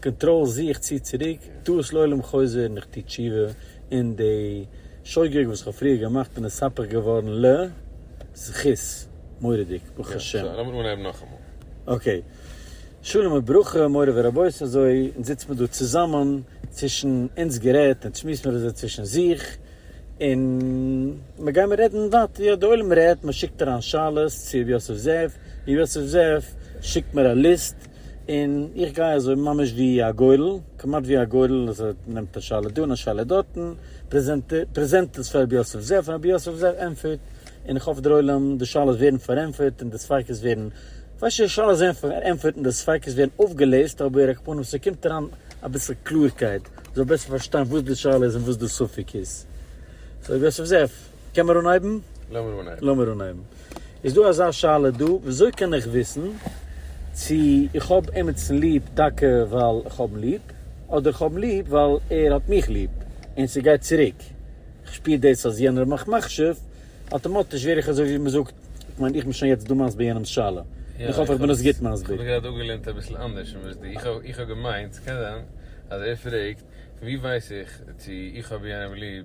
קאנטראל זיך, צי צוריק, טו עס לעולם חוזר און איך טו תשובה, און די שוגג וואס איך האב פריער געמאכט בין הספק געווארן ל זכות מורא'דיג ברוך השם. יא, לאמיר אנהייבן נאכאמאל. אקעי. שלום וברכה מורי ורבותי אזוי אונז זיצט מען דא צוזאמען, צווישן אונז גערעדט אונז שמועסט מיר אזוי צווישן זיך, און מען גיימער רעדן ווייטער, יא די עולם רעדט, מען שיקט אריין שאלות צו ר' יוסף זאב, ר' יוסף זאב שיקט מיר א ליסט, און איך גיי אזוי ממש ווי א גורל, כמעט ווי א גורל, אז ער נעמט א שאלה דא און א שאלה דארטן, פרעזענט עס פאר רבי יוסף זאב, און רבי יוסף זאב ענטפערט, און איך האף דערוילעם די שאלות ווערן פארענטפערט און די ספיקות ווערן, כ'ווייס נישט צו די שאלות ווערן פארענטפערט און די ספיקות ווערן אויפגעלעזט, אבער על כל פנים ס'קומט אריין אביסל קלארקייט, מ'זאל בעסער פארשטיין וואס די שאלה איז און וואס די ספק איז. סאו רבי יוסף זאב. קען מען אנהייבן? לאמיר אנהייבן. לאמיר אנהייבן. איז דא אזא שאלה דא, וויאזוי קען איך וויסן צו איך האב עימיצן ליב טאקע ווייל איך האב אים ליב, אדער איך האב אים ליב ווייל ער האט מיך ליב, און ס'גייט צוריק, איך שפיר דאס אז יענער האט מיך מחשיב, אטאמאטיש ווער איך אזוי ווי מ'זאגט, איך מיין איך בין שוין יעצט דא מסביר יענעמ'ס שאלה, און איך האף איך בין עס גוט מסביר. איך האב גראד אפגעלערנט אביסל אנדערש פון וואס דו, איך האב געמיינט ס'קען זיין אז ער פרעגט ווי ווייס איך צו איך האב יענעם ליב,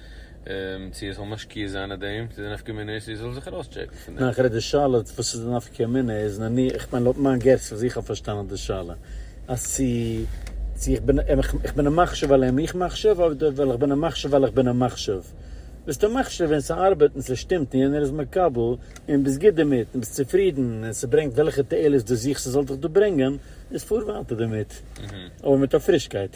צו ער זאל משקיע זיין אין דעם, צו די נפקא מינה איז צו ער זאל זיך ארויסטשעקן פון דעם. נאכער איז די שאלה וואס איז די נפקא מינה איז, נניח, איך מיין לויט מיין געס וואס איך האב פארשטאנען די שאלה, אז צו צו איך בין איך בין א מחשב על אם איך מחשב אדער ווייל איך בין א מחשב ווייל איך בין א מחשב. ביסטו מחשב ווען ס'ארבעט און ס'שטימט און יענער איז מקבל און ביסט גוט דערמיט און ביסט צופרידן און ס'ברענגט וועלכע תועלת דו זוכסט ס'זאל דיך דא ברענגען, איז פאר ווייטער דערמיט, אבער מיט א פרישקייט.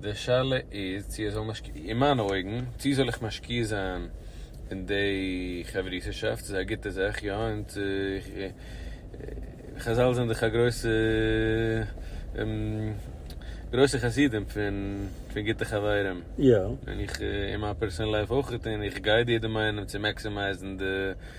די שאלה איז צו ער זאל משקיע, אין מיינע אויגן, צו זאל איך משקיע זיין אין די חברות'שאפט, ס'איז א גוטע זאך, יא, און צו איך, חזל זענען דאך א גרויסע, גרויסע חסידים פון פון גוטע חברים, און איך אין מיין פערסאנעל לייף אויך, און איך גייד יעדעם איינעם צו מעקסימייזן די.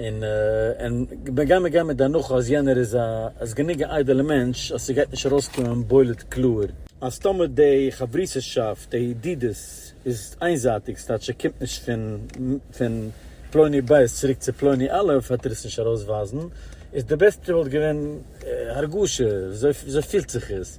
און און מ'גיי מיר גיין מיט די הנחה אז יענער איז א איז גענוג א איידעלע מענטש אז ס'גייט נישט ארויסקומען בולט קלאר אז טאמער די חברותא'שאפט די ידידות איז איינזייטיג ס'טייטש ס'קומט נישט פון פון פלוני ב' צוריק צו פלוני א' העט ער עס נישט ארויסווייזן איז די בעסטע וואלט געווען הרגשה וויאזוי פילט זיך עס.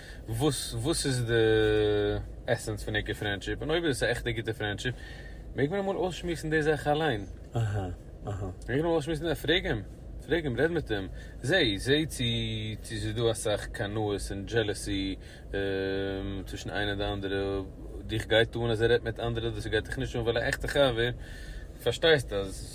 וואס וואס איז די עסענס פון עיקר פרענדשיפ? און אויב איז עס א עכטע גוטע פרענדשיפ מעג מען אמאל אויסשמועסן די זאך אליין? אהה אהה. מעג מען אמאל אויסשמועסן די זאך? פרעג אים, פרעג אים, רעד מיט אים, זע זע צו צו ס'איז דא אסאך קנאות און דזשעלעסי צווישן איינער די אנדערע, דיך גייט אן אז ער רעדט מיט אנדערע, דאס גייט דיך נישט אן, ווייל א עכטע חבר פארשטייסט אז.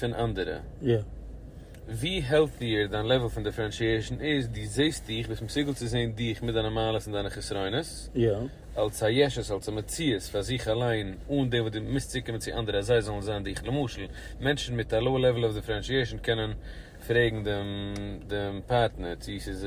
פון אנדערע. ווי העלטיער דיין לעוועל פון דיפרענשיעשן איז, דו זעסט דיך, ביסט מסוגל צו זען דיך מיט דיינע מעלות און דיינע חסרונות, אלס א ישות, אלס א מציאות פאר זיך אליין, אן דעם וואס דו מוזט צוקומען צו אנדערע אז זיי זאלן זען דיך. למשל, מענטשן מיט א לאו לעוועל אוו דיפרענשיעשן קענען פרעגן דעם פארטנער צי ס'איז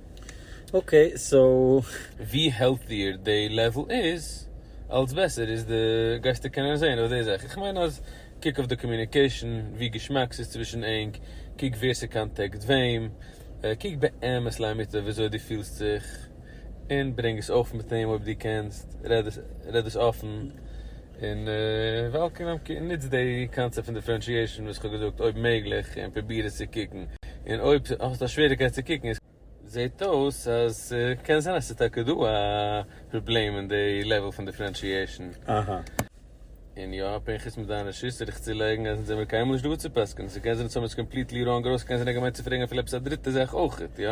אקעי סאו. ווי העלטיער די לעוועל איז, אלץ בעסער איז די, גייסטו קענען זעהן אויף די זאך, איך מיין אז קוק אויף די קאמיוניקעישן, ווי געשמאק ס'איז צווישן ענק, קוק ווער ס'קאנטעקט וועם, קוק באמת לאמיתו וויאזוי דו פילסט זיך, און ברענג עס אויף מיט אים אויב דו קענסט, רעד עס אפן, און וועלקאם קום נוץ די קאנצעפט פון דיפרענשיעשאן וואס כ'האב געזאגט אויב מעגליך און פרוביר עס צו קוקן און אויב האסט א שוועריקייט צו קוקן איז זעהט אויס אז ס'קען זיין אז ס'איז טאקע דא א פראבלעם אין די לעוועל פון דיפרענשיעשאן. אהה. און יא, פנחס מיט דיינע ש ס וועל איך צולייגן אז אונז זעמיר קיינמאל נישט דא צו פסק'נען, ס'קען זיין אז האמיר עס קאמפליטלי ראנג ארויסגעקענט זיין אז ער האט געמיינט צו פרעגן אפילו עפעס א דריטע זאך אויכעט, יא?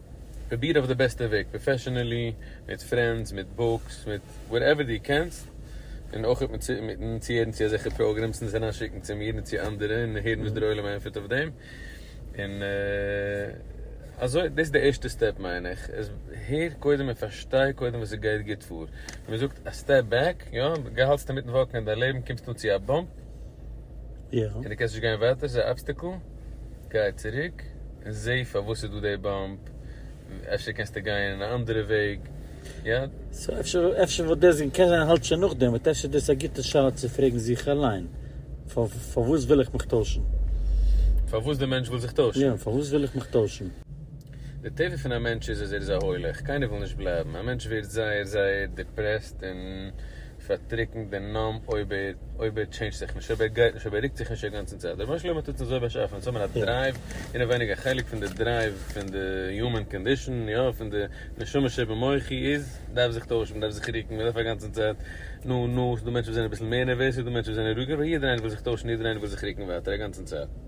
פרוביר אויף די בעסטע וועג, פראפעשענעלי, מיט פרענדס, מיט בוקס, מיט וואטעווער דו קענסט, און אויך מיט מיטן צוהערן צו אזעלכע פראגרעמס און עס אריינשיקן צו מיר און צו אנדערע און הערן וואס דער עולם ענטפערט אויף דעם, און אזוי, דאס איז די ערשטע סטעפ מיין איך, עס הער קודם און פארשטיי קודם וואס עס גייט גוט פאר, ווי מען זאגט א סטעפ בעק, יא, האלטסטו אינמיטן וואקן אין דיין לעבן קומסטו צו א באמפ, יא. און דו קענסט נישט גיין ווייטער ס'איז א אבסטעקל? גיי צוריק און זעה פארוואס ס'איז דא די באמפ, אפשר קענסטו גיין אין א אנדערע וועג, יד. סאו אפשר אפשר וואלט דאס און קען זיין האלט שוין נאכדעם וואלט אפשר דאס א גוטע שאלה צו פרעגן זיך אליין, פארוואס וויל איך מיך טוישן? פארוואס די מענטש וויל זיך טוישן? יא, פארוואס וויל איך מיך טוישן? די טבע פון א מענטש איז אז ער איז א הולך, קיינער וויל נישט בלייבן, א מענטש ווערט זייער זייער דיפרעסט און פארטריקנט און נאמב אויב ער אויב ער טשעינדזשט זיך נישט, אויב ער גייט נישט, אויב ער רוקט זיך נישט א גאנצן צייט. רבונו של עולם האט אונז אזוי באשאפן צו האבן א דרייוו, אינעווייניג א חלק פון די דרייוו פון די יומען קאנדישאן, יא, פון די נשמה שבמוחי איז, דארף זיך טוישן, מען דארף זיך רוקן, מען דארף א גאנצן צייט, נו נו, ס'דא מענטשן וואס זענען אביסל מער נערוועז, ס'דא מענטשן וואס זענען רואיגער, אבער יעדער איינער וויל זיך טוישן, יעדער איינער וויל זיך רוקן ווייטער א גאנצן צייט.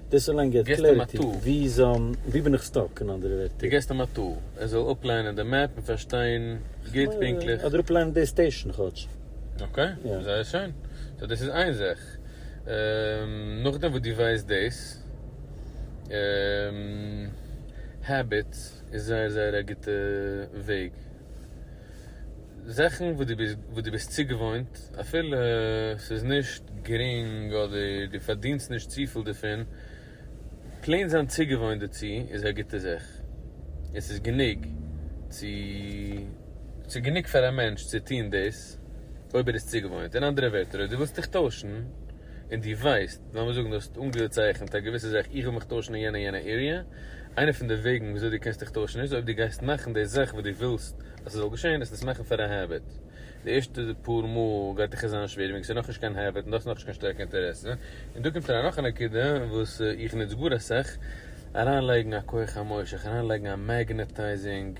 דאס אליין געט קלעריטי, ווי בין איך סטאק אין אנדערע ווערטער? דו געסט אים א טול, ער זאל אפליינען די מעפ און פארשטיין גוט פונקטליך. אדער אפליינען די סטעישן כאטש. אקעי, זייער שיין. סאו דאס איז איין זאך. נאכדעם וואס דו ווייסט דאס, Habits איז זייער זייער א גוטע וועג. זאכן וואס דו ביסט צוגעוואוינט אפילו ס'איז נישט גרינג אדער דו פארדינסט נישט צופיל דערפון, פלעין זיין צוגעוואוינט דערצו איז א גוטע זאך, און ס'איז גענוג צו, ס'איז גענוג פאר א מענטש צו טון דאס אויב ער איז צוגעוואוינט, אין אנדערע ווערטער אויב דו ווילסט דיך טוישן, און דו ווייסט, לאמיר זאגן דו האסט אנגעצייכנט א געוויסע זאך, איך וויל מיך טוישן אין יענע יענע עריע, איינע פון די וועגן וויאזוי דו קענסט דיך טוישן איז אויב דו גייסט מאכן די זאך וואס דו ווילסט אז ס'זאל געשען, וועסט עס מאכן פאר א העביט. די ערשטע פאר מאל גייט דיך עס זיין שווער וועגן ס'איז נאכנישט קיין העביט און דו האסט נאכנישט קיין שטארקע אינטערעסע. און דא קומט אריין נאך א נקודה וואס איך נוץ גאר אסאך, אריינלייגן א כח המושך, אריינלייגן א מעגנעטייזינג,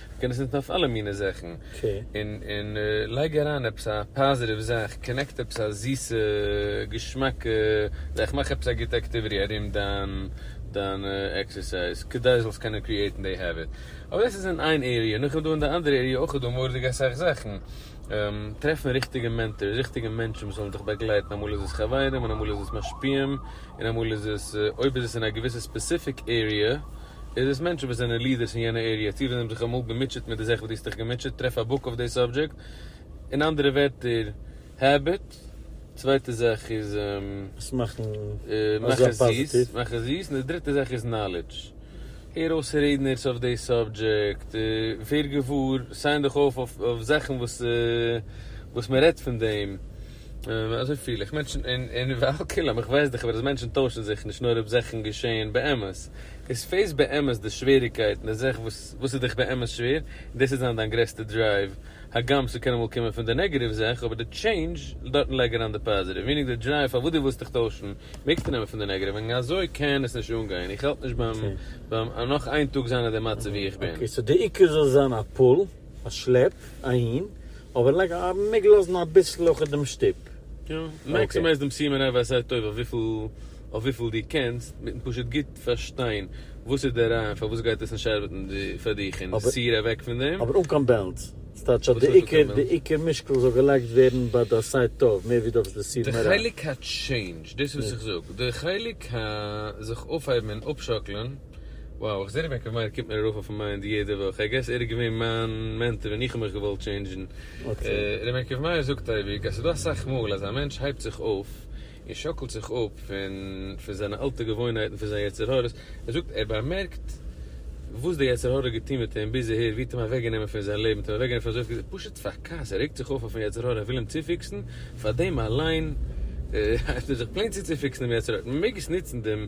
קען עס נוצן אויף אלע מיני זאכן, און לייג אריין עפעס א פאזיטיוו זאך, קאנעקט עפעס א זיסע געשמאקע זאך, מאך עפעס א גוטע עקטיוויטי ארום דיין עקסערסייז, כדי זאלסט קענען קריעטן די העביט, אבער דאס איז אין איין עריע, נאך דעם איז דא אין די אנדערע עריע אויך איז דא מורא'דיג אסאך זאכן, טרעפן ריכטיגע מענטארס, ריכטיגע מענטשן וואס זאלן דיך באגלייטן, אמאל איז עס חברים און אמאל איז עס משפיעים, און אמאל איז עס, אויב איז עס אין א געוויסע ספעסיפיק עריע, איז דאס מענטשן וואס זענען לידערס אין יענע עריע, צו וואס זיי האבן זיך אמאל געמוטשעט מיט די זאך וואס דו האסט דיך געמוטשעט, טרעף א בוק אויף די סאבדזשעקט. אין אנדערע ווערטער, העביט, צווייטע זאך איז. עס מאכן. מאך עס זיס, מאך עס זיס, און די דריטע זאך איז נאלעדזש. הער אויס רעדנערס אויף די סאבדזשעקט, ווער געוואר, סיין דיך אויף אויף זאכן וואס וואס מען רעדט פון דעם. אזוי פיל איך מענטשן און ועל כולם איך ווייס דאך אבער אז מענטשן טוישן זיך נישט נאר אויב זאכן געשעהן באמת איז פעיס באמת די שוועריגקייטן די זאך וואס וואס איז דיך באמת שווער און דאס וועט זיין דיין גרעסטע דרייוו הגם ס'קען אמאל קומען פון די נעגעטיוו זאך אבער די טשעינדזש דארטן לייג אריין די פאזיטיוו מינינג די דרייוו פארוואס די ווילסט דיך טוישן מעגסטו נעמען פון די נעגעטיוו וועגן אזוי קען עס נישט אנגיין איך האלט נישט ביים נאך איין טאג זיין אין די מצב ווי איך בין. אקעי סאו די עיקר זאל זיין א פול. א שלעפ אהין, אבער לייג א מעג לאזן אביסל אויך דעם שטופ. יא, מעקסימייז דעם סימן אויף א סייט טוב אויף וויפיל דו קענסט, מיטן פשוט גוט פארשטיין וואס איז דער רעיון פארוואס גייט עס נישט ארבעטן פאר דיך און סיר אוועק פון דעם. אבער אן קיין בעלנס. ס'טייטש אז די עיקר די עיקר משקל זאל געלייגט ווערן ביי די סייט טוב מער ווי דאס די סיר מרע. די חלק ה טשעינדזש, דאס וואס איך זאג, די חלק ה זיך אויפהייבן און אפשאקלען. Wow איך זע די בענק אוו מייער קומט מיר ארויף אויפן מיינד יעדע וואך, איי געס ער איז געווען מיין מענטאר ווען איך האב מיך געוואלט טשעינדזשן. ר' בענק אוו מייער זאגט אייביג אז ס'איז דא אסאך מאל אז א מענטש הייבט זיך אויף און שאקלט זיך אפ פון פון זיינע אלטע געוואוינהייטן פון זיין יצר הרע'ס, ער זאגט ער באמערקט וואס די יצר הרע האט געטון מיט אים ביז אהער ווי האט אים אוועק גענומען פון זיין לעבן, האט אים אוועק גענומען פון אזויפיל זאכן, פשוט פאר כעס, ער רעגט זיך אויף אויפן יצר הרע ער וויל אים צופיקסן, פאר דעם אליין הייבט ער זיך פלעין צו צופיקסן דעם יצר הרע, מען מעג עס נוצן דעם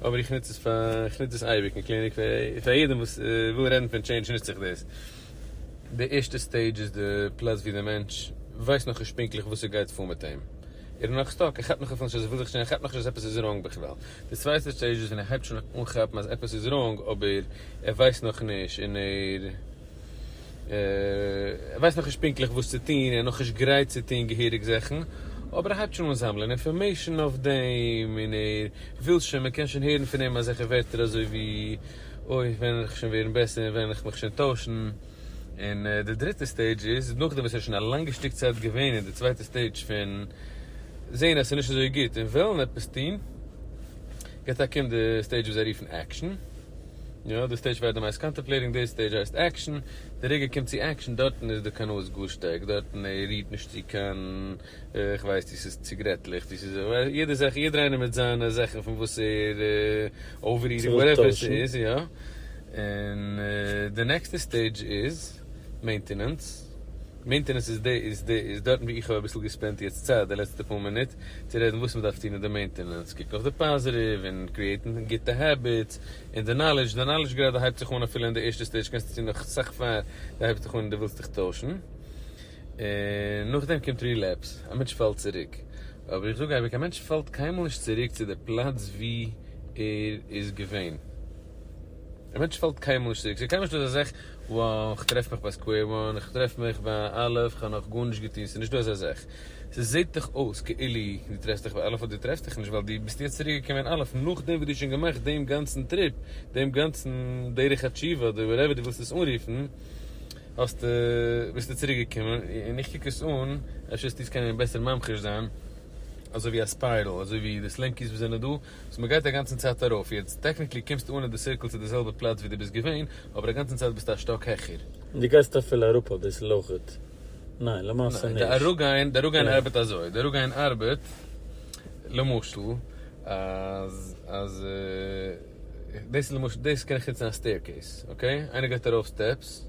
אבער איך נוץ עס פאר איך נוץ דאס אייביג אין קליניק פאר יעדעם וואס וויל רעדן פון טשעינדזש נוץ איך דאס. די ערשטע סטעידזש איז די פלאץ ווי די מענטש ווייסט נאכנישט פונקטליך וואס עס גייט פאר מיט אים. ער איז נאך סטאק, ער כאפט נאך אפילו נישט אז ער וויל זיך טשעינדזשן, ער כאפט נאך נישט אז עפעס איז ראנג בכלל. די צווייטע סטעידזש איז ווען ער הייבט שוין אן כאפן אז עפעס איז ראנג אבער ער ווייסט נאכנישט און ער ער ווייסט נאכנישט פונקטליך וואס צו טון, ער איז נאכנישט גרייט צו טון געהעריג זאכן, אבער ער הייבט שוין אן זאמלען אינפארמעישאן אויף דעם, און ער וויל שוין, מ'קען שוין הערן פון אים אזעלכע ווערטער אזוי ווי, אוי, ווען וועל איך שוין ווערן בעסער, וועל איך מיך שוין טוישן. און די דריטע סטעידזש איז, נאכדעם וואס ער איז שוין א לאנגע שטיק צייט געווען אין די צווייטע סטעידזש פון זען אז עס איז נישט אזוי גוט און וועלן עפעס טון, יעצט אקומט די סטעידזש וואס זיי רופן עקשן. יא, די סטעידזש פאר דעם הייסט קאנטעמפלעיטינג, די סטעידזש הייסט עקשאן, די רגע קומט צו עקשאן דארטן איז די קנאות גאר שטארק, דארטן ער רירט נישט צו קיין, איך ווייס צו ס'איז ציגרעטלעך, צו ס'איז יעדע זאך, יעדער איינער מיט זיינע זאכן פון וואס ער אויף רירט, וואטעווער ס'איז, יא, און די נעקסטע סטעידזש איז. מעינטענענס, מעינטענענס איז די איז די איז דארטן ווי איך האב אביסל געספענט יעצט צייט די לעצטע פאר מינוט צו רעדן וואס מ'דארף טון אין די מעינטענענס, קוק נאך די פאזעטיוו און קריעטן גוטע העביטס און די נאלעדזש, די נאלעדזש גראדע הייבט זיך אן אפילו אין די ערשטע סטעידזש קענסטו טון נאך סאך פאר די הייבסט דיך אן און די ווילסט דיך טוישן און נאכדעם קומט רילעפס, א מענטש פאלט צוריק אבער איך זאג אייביג א מענטש פאלט קיינמאל נישט צוריק צו די פלאץ ווי ער איז געווען. א מענטש פאלט קיין מושג, ס'איז קיינמאל נישט אזא זאך, וואו איך טרעף מיך ביי סקווער וואן, איך טרעף מיך ביי א', איך האב נאך גארנישט געטון, ס'איז נישטא אזא זאך. ס'זעט דאך אויס כאילו דו טרעפסט דיך ביי א', אבער דו טרעפסט דיך נישט, ווייל דו ביסט יעצט צוריק געקומען אין א', נאכדעם וואס דו האסט שוין געמאכט דעם גאנצן טריפ, דעם גאנצן דרך התשובה, אדער וואטעווער דו ווילסט עס אנרופן, האסטו, ביסטו צוריק געקומען, און איך קוק עס אן, אפשר וועסטו עס קענען בעסער ממחיש זיין, אזוי ווי א ספיירל, אזוי ווי די סלענקיס וואס זענען דא, סאו מ'גייט אגאנצן צייט ארויף, יעצט טעקניקלי קומסטו אן אין די סירקל צו די זעלבע פלאץ ווי דו ביסט געווען, אבער אגאנצן צייט ביסטו א שטאק העכער. און דו גייסט אפילו אראפ אביסל אויכעט. ניין, למעשה נישט. ניין, די אראפגיין, די אראפגיין ארבעט אזוי, די אראפגיין ארבעט, למשל, אז, אז, דאס איז למשל, דאס קען איך נוצן א סטעירקעיס, אקעי? איינער גייט ארויף סטעפס,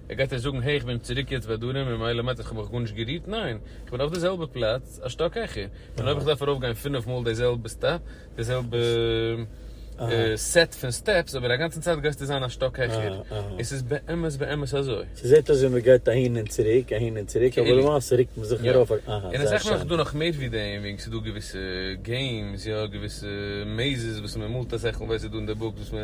ער גייט אויך זאגן העי איך בין צוריק יעצט ביי דרום און מילא מיינט עס כ'האב מיך גארנישט גערירט? ניין! כ'בין אויף די זעלבע פלאץ א שטאק העכער און אויב איך דארף ארויף גיין פֿינף מאל די זעלבע סטעפ, די זעלבע סעט פון סטעפס אבער א גאנצן צייט גייסטו זיין א שטאק העכער, און ס'איז באמת באמת אזוי. ס'זעט אויס ווי מ'גייט אהין און צוריק אהין און צוריק אבער למעשה רוקט מען זיך ארויף א. אהא. און עס רעכן אויך דא נאך מער ווי דעם וועגן ס'דא געוויסע געימס יא געוויסע מעיזעס וואס מ'מאלט א זעכל ווער ס'איז דא אין די בוקס וואס מ'.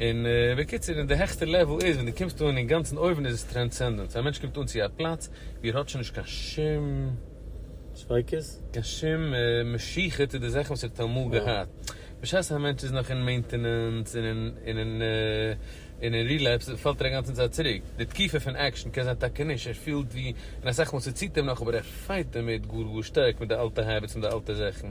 און בקיצור און די העכסטע לעוועל איז ווען דו קומסט אן אינגאנצן אויבן איז עס טרענסענדענס א מענטש קומט אן צו א פלאץ ווי ער האט שוין נישט קיין שום ספיקות? קיין שום משיכה צו די זאכן וואס ער האט אמאל געהאט בשעת א מענטש איז נאך אין מעינטענענס און אין רילעפס פאלט ער אינגאנצן צייט צוריק די תקיפה פון עקשן קען זיין טאקע נישט ער פילט ווי אין אסאך מאל ס'ציט אים נאך אבער ער פייט דערמיט גאר גאר שטארק מיט די אלטע העביטס מיט די אלטע זאכן.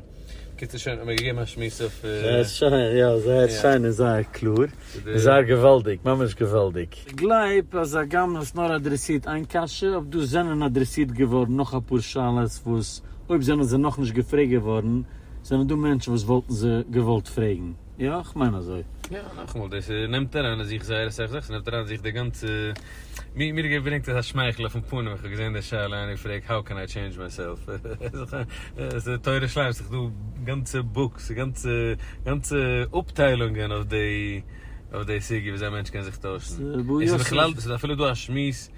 קיצור שוין האט מיר געגעבן א שמועס אויף. זייער שיין, יא זייער שיין און זייער קלאר, און זייער געוואלדיג, ממש געוואלדיג. כ'גלייב אז הגם האסט נאר אדרעסירט איין קשיא, אויב דא זענען אדרעסירט געווארן נאך אפאר שאלות וואס אויב זענען זיי נאכנישט געפרעגט געווארן זענען דא מענטשן וואס וואלטן זיי געוואלט פרעגן. יא איך מיין אזוי. יא נאכאמאל דאס נעמט אריין אין זיך זייער אסאך זאכן, ס'נעמט אריין אין זיך די גאנצע, מיר מיר געברענגט אזא שמייכל אויפן פנים ווען כ'האב געזען די שאלה איינער געפרעגט האו קען איי טשעינדזש מיי סעלף, ס'איז א תורה שלימה, ס'איז דא גאנצע בוקס, גאנצע גאנצע אפטיילונגען אויף די אויף די סוגיא וויאזוי א מענטש קען זיך טוישן, ס'איז בכלל, ס'איז אפילו דא א שמועס.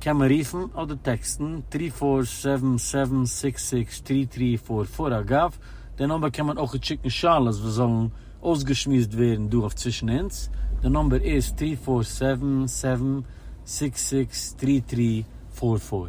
קען מען רופן אדער טעקסטן טרי פאר זיבן זיבן זעקס זעקס טרי טרי פאר פאר אגב די נומבער קען מען אויכעט שיקן שאלות וואס זאלן אויסגעשמועסט ווערן דא אויף צווישן אונז די נומבער איז טרי פאר זיבן זיבן זעקס זעקס טרי טרי פאר פאר.